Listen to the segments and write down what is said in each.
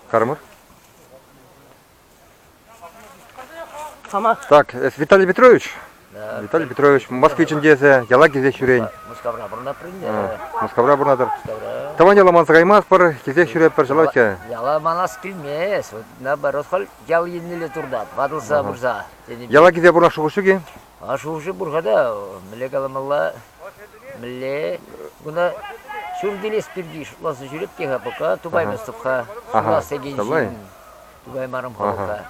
Кармар. Так, эс Виталий Петрович? Да. Виталий Петрович, москвичӑн тесе яла килсех ҫӳрен. Мускавра пурӑнап принде. Мускавра пурӑнатӑр. Тӑван яла манса каймастпӑр, килсех ҫӳреппӗр, ҫӑлаҫҫӗ. Яла манас килмест, наоборот, хӑл ял еннелле туртат, ватӑлса пырса. Яла килсе пурӑнас шухӑш ҫук-и? Шурши пур-ха та, мӗнле каламалла? Мӗнле? Куна ҫум тилес пирки шутласа ҫӳреп те-ха пока, тупаймастӑп-ха. Шула секен ҫын. Тупаймарӑм-ха пока.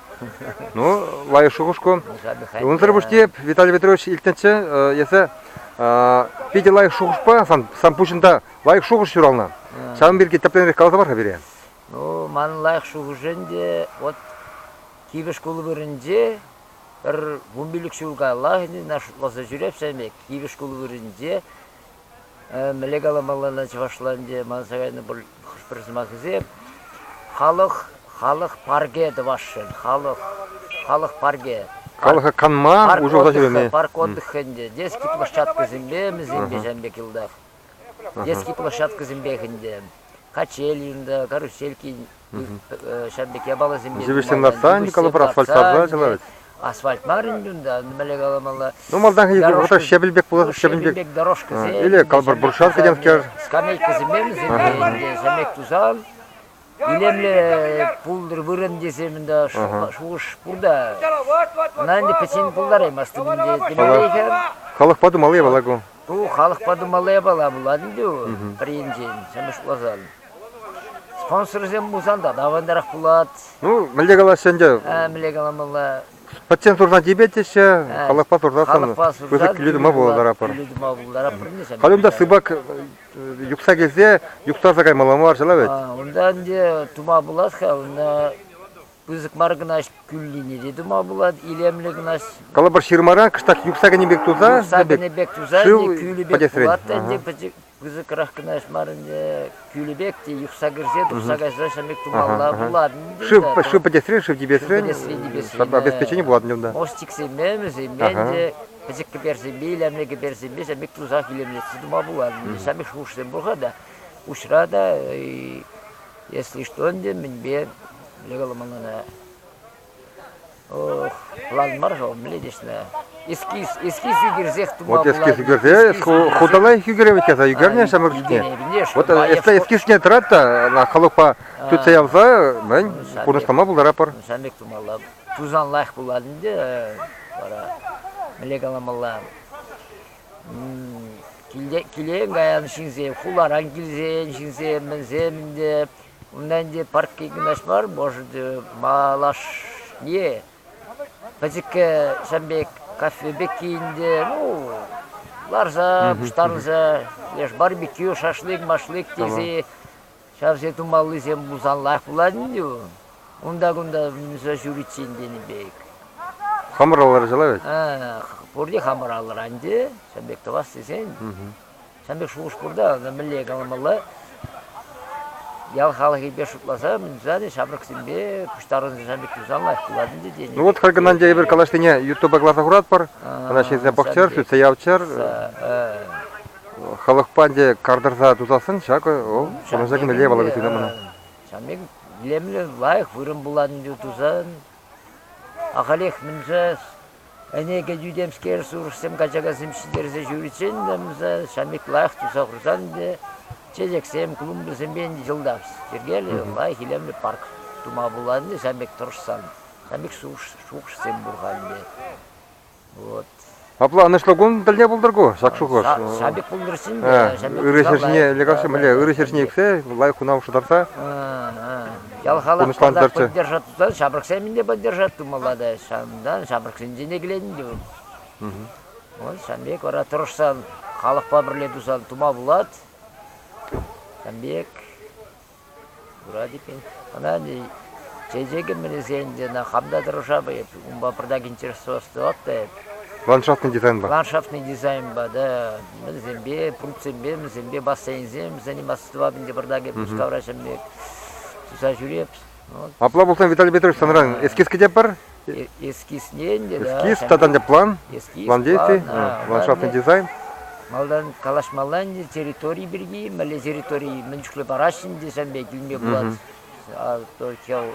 Ну, лайӑх шухӑш кун. Унсӑр пуҫне Виталий Петрович илтнӗччӗ эсӗ питӗ лайӑх шухӑшпа, сан, сан пуҫӑнта лайӑх шухӑш ҫуралнӑ. Ҫавӑн пирки тӗплӗнрех каласа пар-ха пире. Ну, ман лайӑх шухӑш ӗнтӗ, вот кивӗ шкул вырӑнче Пӗр вун пилӗк ҫул каяллахи ӑна шутласа ҫӳрепсӗ ӗмӗт. Кивӗ шкул вырӑнӗнче мӗнле каламаллана чӑвашла ӗнтӗ манса кайнӑ пӗр сӑмахӗсем. Халӑх, халӑх парке тӑвасшӑн, халӑх, халӑх парке. Халӑха канма, уҫӑлса ҫӳреме. Парк отдыха ӗнтӗ, детский площадкӑсемпе, мӗнсемпе ҫав пек йӑлтах. Детский площадкӑсемпех ӗнтӗ. Качель йунта, карусельки Ҫав пек япаласемпе... Зивӗҫсен лартса, Николаевпа асфальт лартса кӑларать. Асфальт мар ӗнтӗ унта, мӗнле каламалла. Ну, малтанхи вӑхӑта щепель пек пулас, щепель пек. дорожкӑсем. Или калпӑр буршат кӗтем кер. Скамейкӑсемпе вӗсемпе ӗнтӗ, самек тусан. Илемле пултӑр вырӑн тесем ӗнтӗ шухӑш пурта. Ӑна ӗнтӗ пӗчен пултараймастӑп ӗнтӗ. Тӗлӗнлӗхӗ. Халӑхпа тумалли япала ку. Ку халӑхпа тумалли япала пулать ӗнтӗ. Пӗринчен, самеш пуласан. Спонсорсем пулсан та авантарах пулать. Ну, мӗнле калаҫҫӗ ӗнтӗ? Э, мӗнле каламалла? Пӗччен сурна типетеҫҫӗ, халӑхпа сурса Халӑхпа сурса Пысӑк киле тума пултаратпӑр. Киле тума пултаратпӑр. Халь унта сыпак э, юхса килсе юхтарса каймалла мар ҫала вӗт. Унта ӗнтӗ тума пулас-ха, унта пысӑк мар кӑна кӳллине те тума пулать, илемлӗ кӑна. Калӑпӑр ҫырмаран кӑштах юхса кӗнӗ пек туса, юхса кӗнӗ пек туса, шыв кӳлӗ пек пулать, ӗнтӗ пӗчӗк пысӑкрах кӑна ӗҫ мар ӗнтӗ, кӳлӗ пек те юхса кӗрсе тухса кайса ҫамек тумалла пулать ӗнтӗ. Шыв, шыв пӗтесрен, шыв типесрен, обеспечение пулать унта. Мост чиксеме, мӗсеме ӗнтӗ пӗчӗк кӗперсеме, илемлӗ кӗперсеме ҫамек тусах илемлетсе тума пулать. Ҫамек шухӑшсем пулса та, уҫра та, если что ӗнтӗ, мӗнпе лекаламалла. План мар-ха, мӗлетеҫлӗ. Эскиз ӳкерсех тума Вот эскиз ӳкерсе хута лайӑх ӳкерет тесе ӳкернӗ ҫамрӑк чухне. Вот эскизне тӑрать та халӑхпа тытса явса мӗн пурнӑҫлама пултаратпӑр. Ҫавӑн пек тумалла. Тусан лайӑх пулать ӗнтӗ вара. Мӗнле каламалла? Килен каян ҫынсем, хуларан килсен ҫынсем, мӗнсем ӗнтӗ Унта ӗнтӗ паркки кунаш мар, может, малашне пӗчӗккӗ ҫын пек кафе пекки ӗнтӗ, ну, ларса пуҫтарӑнса леш барбекю, шашлык-машлык тесе ҫавсем тумаллисем пулсанлах пулать ӗнтӗ ку. Унта-кунта мӗнсӗр ҫӳриччен тенӗ пек. Хамӑр алла кӑларса ларать. Пурте хамӑр алӑра ӗнтӗ, ҫын пек тӑвас тесен. Сан пек шухӑш пур та, мӗнле каламалла? Ял халӑхӗпе шутласа, мӗншӗн ҫамрӑксемпе пуҫтарӑнса ҫан пек тусан лайӑх пулать ӗнтӗ тенӗ. Ну вот, Харкӑнанче эпир калашлине Ютуба класа хуратпӑр, ӑна ҫынсем пӑхчӑр, шӳтсе явччӑр. Халӑхпа ӗнтӗ картӑрса тусассӑн ҫакӑ вӑл пурнӑҫа кӗмелле полагательно мана. Ҫан пек илемлӗ, лайӑх вырӑн пулать ӗнтӗ тусан. Ахалех мӗншӗн Ӗне кӗтӳ темскер сурӑхсем качакасем ҫитерсе ҫӳриччен-тӗмсӗ ҫамиклах туса хурсан те чечексем, клумбӑсемпе йӑлтах йӗркеллӗ лайӑх илемлӗ парк тума пулать ҫамик тӑрӑшсан. Ҫамик шухӑшсем пур-ха ӗнтӗ. Вот. Апла ӑнӑҫлӑ кун тӗлне пултӑр ку, ҫак шухӑш. Ҫамик пултӑр ӗҫчен те. Ырӑ ҫӗрҫине, ӗлӗк ырӑ ҫӗрҫине ӳксе лайӑх хунав шӑтарса. Ял халӑх казак поддержать та, ҫамрӑксем те поддержать тумалла та. Ҫавӑнтан ҫамрӑксенчен те киленӗ тӗвӗм. Вот ҫавӑн пек вара тӑрӑшсан, халӑхпа пӗрле тусан тума пулать. Ҫавӑн пек вроде ӑна чечекӗм мӗнесен ӑна хам та тӑрӑшап эп, унпа пӗртак интересоваться та эп. Ландшафтный дизайнпа. Ландшафтный дизайнпа, да. Вӗсемпе, пунктсемпе, вӗсемпе бассейнсем, вӗсен бассейнӗпе пӑртакӗ Пушкавра ҫӗм пек туса ҫӳреп. Вот. Апла пулсан, Виталий Петрович, санран эскиз кӗтетпӗр? Э, эскизнен те, да. Эскиз, тата план? Эскиз, план действий, ландшафтный дизайн? Малтан калаҫмалла ӗнтӗ территори пирки, мӗнле территори мӗн чухлӗ параҫҫӗ ӗнтӗ килме пулать. А то хел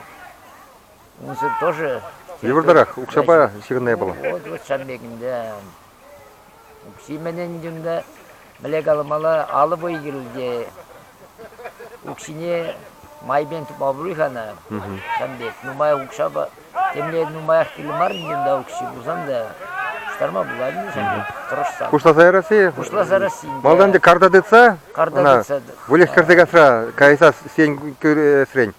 унсӑр тоже... Йывӑртарах, укҫапа ҫырӑннӑ япала. Вот, вот ҫам пек ӗнтӗ. Укҫи мӗнӗн чунта, мӗнле каламалла, алӑ пуйи кирлӗ укҫине майпен тупма пулать-ха ӑна ҫавӑн пек. Нумай укҫапа темле нумаях кирлӗ мар ӗнтӗ унта укҫи пулсан та пуҫтарма пулать ӗнтӗ ҫавӑн пек тӑрӑшсан. Пуҫласа ярасси? Пуҫласа ярасси. Малтан ӗнтӗ карта тытса, ӑна выльӑх кӗрсе касса кайса сиен кӳресрен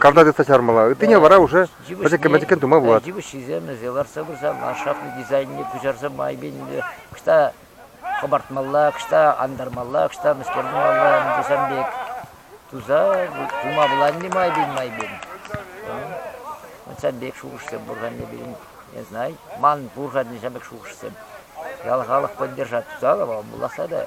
карта тытса чармалла. Ыттине вара уже Пӗчӗккӗн-пӗчӗккӗн тума пулать. Йывӑҫҫисем ӗҫе лартса пырсан ландшафтный дизайнне куҫарса майӗпенне кӑҫта хӑпартмалла, кӑҫта антармалла, кӑҫта мӗскер тумалла тесен пек туса тума пуланни майӗпен-майӗпен. Ҫав пек шухӑшсем пур-ха не пирӗн, не знаю, ман пур-ха ҫав пек шухӑшсем. Ял халӑх поддержать тусаллӑ, вӑл пуласса та.